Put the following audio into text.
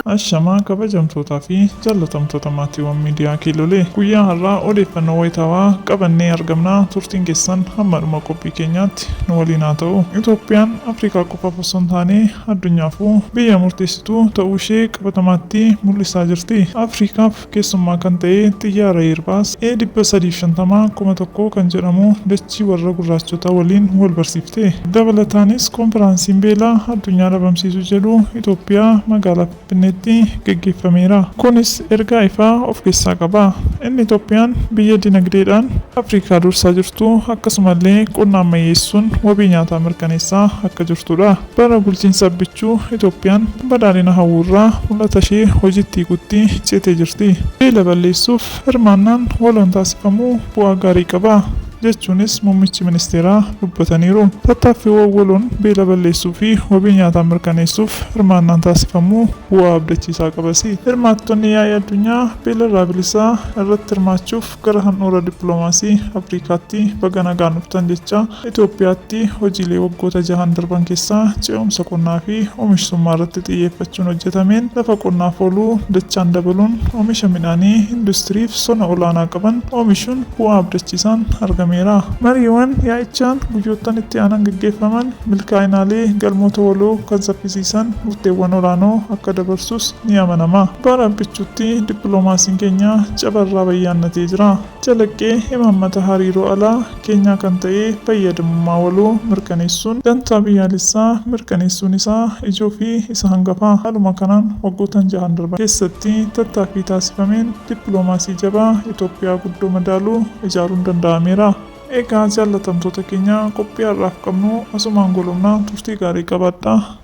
Ashamaa kabajamtootaa fi jaalatamtoota maatiiwwan miidiyaa Kiilolee guyyaa har'aa odeeffannoo wayitaawaa qabannee argamnaa turtiin keessan hamma dhuma qophii keenyaatti nu waliin haa ta'u. Itoophiyaan Afrikaa qofaaf osoo hin taane addunyaafuu biyya murteessituu ta'uu ishee qabatamaatti mul'isaa jirti. Afrikaaf keessummaa kan ta'e xiyyaara Airbus A350 kuma tokkoo kan jedhamu dachii warra gurraachotaa waliin wal barsiifte. Dabalataanis Konfiraansiin Beela Addunyaa Dhabamsiisuu jedhu Itoophiyaa magaalaa Finfinneetti gaggeeffameera. Kunis ergaa ifaa of keessaa qaba. Inni Itoophiyaan biyya dinagdeedhaan Afrikaa dursaa jirtu, akkasumallee qonna ammayyeessuun wabii nyaataa mirkaneessaa akka jirtudha. Bara bulchiinsa Abbichuu Itoophiyaan badhaadhina hawwuurraa mul'ata ishee hojiitti hiikutti ceetee jirti. Beela balleessuuf hirmaannaan waloon taasifamu bu'aa gaarii qaba, jechuunis muummichi ministeeraa dubbataniiru. Tattaaffiiwwan waloon beela balleessuu fi wabii nyaataa mirkaneessuuf hirmaannaan taasifamu bu'aa abdachiisaa qabas. Hirmaattonni yaa'ii addunyaa beelarraa bilisaa irratti hirmaachuuf Gara handhuura dippiloomaasii Afriikaatti baga nagaan dhuftan jechaa, Itoophiyaatti hojiilee waggoota jahan darban keessaa ce'umsa qonnaa fi omishsummaa irratti xiyyeeffachuun hojjetameen lafa qonnaaf oolu dachaan dabaluun omisha midhaanii industiriif sona olaanaa qaban omishuun bu'aa abdachiisaan argameera. Mariiwwan yaa'ichaan guyyoottan itti aanan gaggeeffaman milkaa'inaalee galmoota waloo kan saffisiisan murteewwan olaanoo akka dabarsus, ni amanama. Bara Abbichuutti dippiloomaasiin keenya cabarraa bayyaannatee jira. Calaqqee imaammata hariiroo alaa keenyaa kan ta'e fayyadamummaa waloo mirkaneessuun dantaa biyyaalessaa mirkaneessuun isaa ijoo fi isa hangafa. Haaluma kanaan waggootan jahan darban keessatti tattaaffii taasifameen dippiloomaasii jabaa Itoophiyaa guddoo madaalu ijaaruun danda'ameera. Egaa jaallatamtoota keenya qophii har'aaf qabnu asumaan golobna turtii gaarii qabaadhaa.